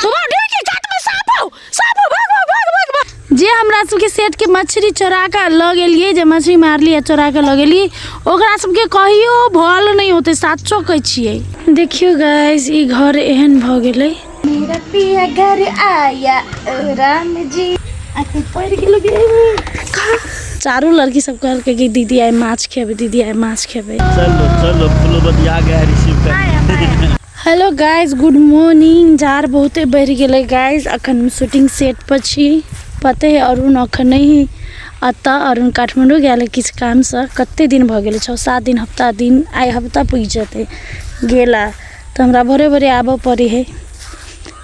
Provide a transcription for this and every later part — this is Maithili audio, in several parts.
सुबह ढेर के काट में सांप हो सांप हो भाग भाग भाग भाग भाग जे हमरा सबके सेठ के मछली चोरा के लऽ गेलिए जे मछली मारली आ चोरा के लऽ गेली ओकरा सबके कहियो भल नहि होते साचो कहै छियै देखियो गाइस ई घर एहन भऽ गेलै मेरा पिया घर आया ओ राम जी आके पड़ गेलो चारू लड़की सब कहलकै कि दीदी आइ माछ खेबै दीदी आइ माछ खेबै चलो चलो फुलबतिया गए रिसीव कर हेलो गाइज गुड मॉर्निंग जार बहुते बढ़ि गेलै गाइज अखन शूटिंग सेट पर छी पते है अरुण अखन नहि अतः अरुण काठमांडू गेल किछु कामसँ कते दिन भऽ गेल छओ सात दिन हफ्ता दिन आइ हफ्ता पुगि जेतै गेला तऽ हमरा भोरे भोरे आबऽ पड़ै है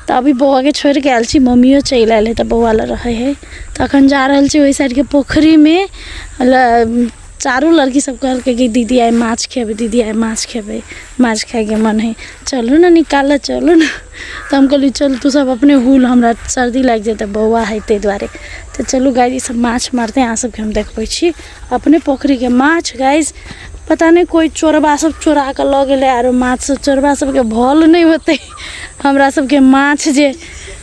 तऽ अभी बौआके छोड़ि कऽ आयल छी मम्मियो चलि आयल है तऽ बौआ लग रहै है तऽ अखन जा रहल छी ओहि साइडके पोखरिमे चारू लड़की सब कहलकै कि दीदी आइ माछ खेबै दीदी आइ माछ खेबै माछ खाइके मन हइ चलू ने निकालऽ चलू ने तऽ हम कहलियै चल तू सब अपने हूल हमरा सर्दी लागि जेतै बौआ हइ तै दुआरे तऽ चलू गाय ई सब माछ मारतै अहाँ सबके हम देखबै छी अपने पोखरिके माछ गाइस पता नहि कोइ चोरबा सब चोरा कऽ लऽ गेलै आरो माछ सब चोरबा सबके भल नहि होतै हमरा सबके माछ जे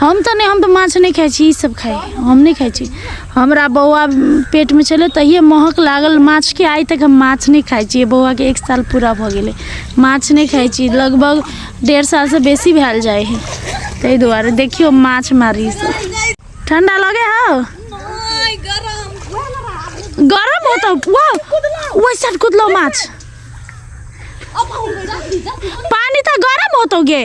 हम तऽ नहि हम तऽ माछ नहि खाइ छी ई सब खाइ हम नहि खाइ छी हमरा बौआ पेटमे छलै तहिए महक लागल माछके आइ तक हम माछ नहि खाइ छी बौआके एक साल पूरा भऽ गेलै माछ नहि खाइ छी लगभग डेढ़ सालसँ बेसी भेल जाइ हइ ताहि दुआरे देखियौ माछ मारी ठंडा लगे हौ गरम होता वाह ओहि साइड कुदलो माछ पानी तऽ गरम होतो गे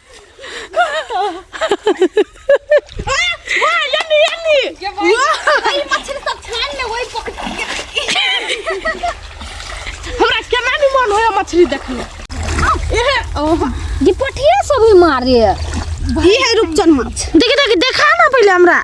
हमरा केना नहीं मन होया मछली देखने ये पठिया सब ही मारे ई है रूपचन माछ देखि देखि देखा ना पहिले हमरा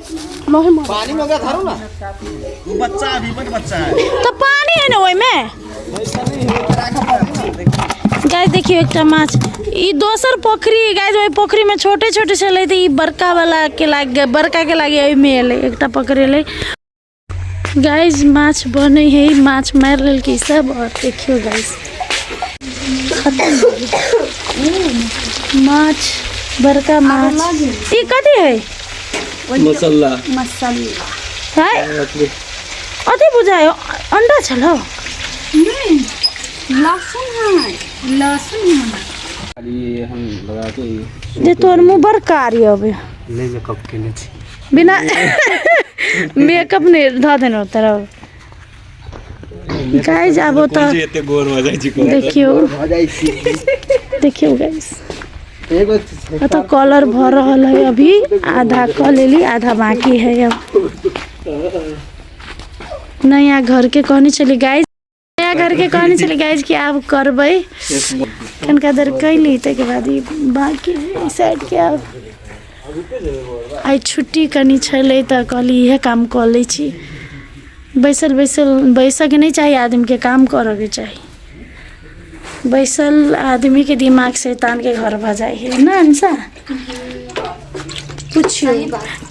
पानी में ओकरा धरू ना वो बच्चा है, अभी बट बच्चा है तो पानी है ना ओहि में वैसा नहीं है ओकरा राखऽ पड़तै ना, देखियौ। गाय देखियो एकटा माछ ई दोसर पोखरी गाय ओहि पोखरी में छोटे छोटे छलै तऽ ई बड़का वाला के लाग बड़का के लागे ओहि में एलै एकटा पकड़ेलै गाइज माछ बने है माछ मार लेल की सब और देखियो गाइज माछ बड़का माछ ई कथी है मसाला है अथी बुझायो अंडा छलो लहसुन है लहसुन है ये हम लगा के जे तोर मुँह बड़ कारी अबे ले ले कब केने छी बिना मेकअप नहि धऽ देलहुँ तरफ गाइज आब कोन ओतऽ जे एते गोर भऽ जाइ छै कहू तऽ। देखियौ भऽ जाइ छी देखियौ गाइज एगो चीज एतऽ कॉलर भऽ रहल है अभी आधा कऽ लेली आधा बाकी है अब नया घर के कहने छली गाइज नया घर के कहने छलै गाइज कि आब करबै कनिका देर कैली ताहिके बाद ई बाँकी ई साइडके आब आइ छुट्टी कनि छलै तऽ कहली इहे काम कऽ लै छी बैसल बैसल बैसऽके नहि चाही आदमीके काम करऽके चाही बैसल आदमीके दिमाग शैतानके घर भऽ जाइ है ने अंशा पुछियो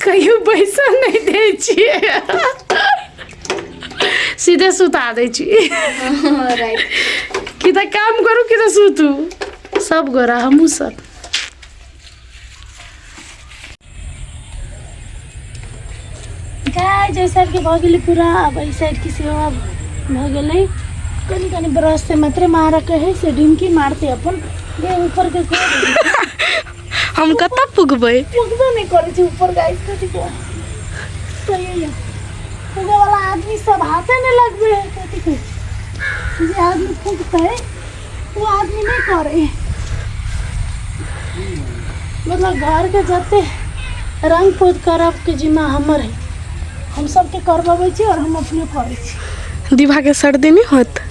कहियो बैसल नहि दै छियै सीधे सुता दै छी राइट कि तऽ काम करू कि तऽ सुतू सब गोरा हमहूँ सब गाय जे साइडके भऽ गेलै पूरा आब एहि साइडके सेहो आब भऽ गेलै कनि कनि ब्रश से मात्रे मारऽ कहै से डिमकी मारते अपन जे ऊपरके कऽ देबै। हम कतऽ पुगबै पुगबे नहि करै छै ऊपर गाइस कथी को कहिए पुगे वाला आदमी सब हाथे नहि लगबे है कथी को जे आदमी फूकते वो आदमी नहीं करे मतलब घर के जते रंग पोत करब के जिम्मा हमर है हम सबके करबे छी और हम अपने करे छी दिभा के सर्दी नहीं होत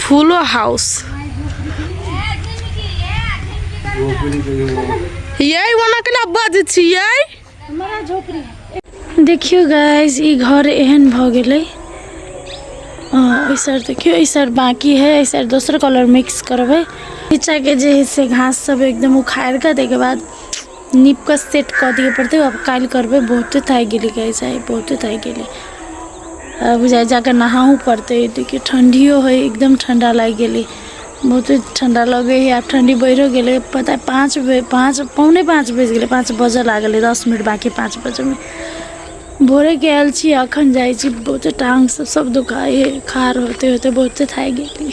फूलो हाउस यही वहाँ के ना बज छियै हमारा झोपड़ी देखियो गाइस ई घर एहन भऽ गेलै ऐसा देखियो ऐसा बाकी है ऐसा दोसर कलर मिक्स करबै नीचा के जे है से घास सब एकदम उखाड़ के ताहिके बाद नीपके सेट कऽ दिअ पड़तै आब काल्हि करबै बहुते थाकि गेली गाइस आइ बहुते थाकि गेली आ बुझाइ जाके नहाहू पड़तै देखियौ ठंडियो है एकदम ठंडा लागि गेली बहुते ठंडा लगे है आब ठंडी बढ़ियो गेलै पता पाँच बजे पाँच पौने पाँच बजि गेलै पाँच बजऽ लागल है दस मिनट बाकी पाँच बजेमे भोरेके आयल छी अखन जाइ छी बहुते टांग सब सब दुखाइ है खार होते होते बहुते थाकि गेली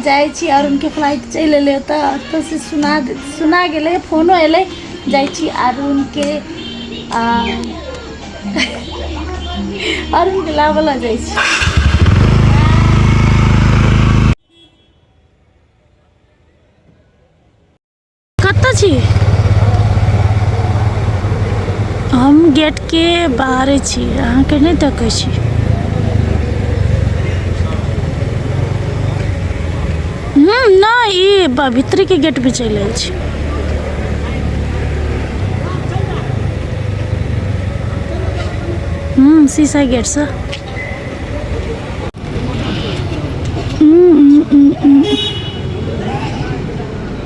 जाइ छी आओर उनके फ्लाइट चलि एलै ओतऽ ओतऽसँ सुना सुना गेलै फोनो एलै जाइ छी आओर उनके आओर उनके लाबऽ लऽ जाइ छी कतऽ छी हम गेटके बाहरे छी अहाँके नहि देखै छी हूँ नहि ई ब- भीतरेके गेटमे चलि आयल छी हूँ शीशा गेटसँ हूँ, हूँ, हूँ, हूँ।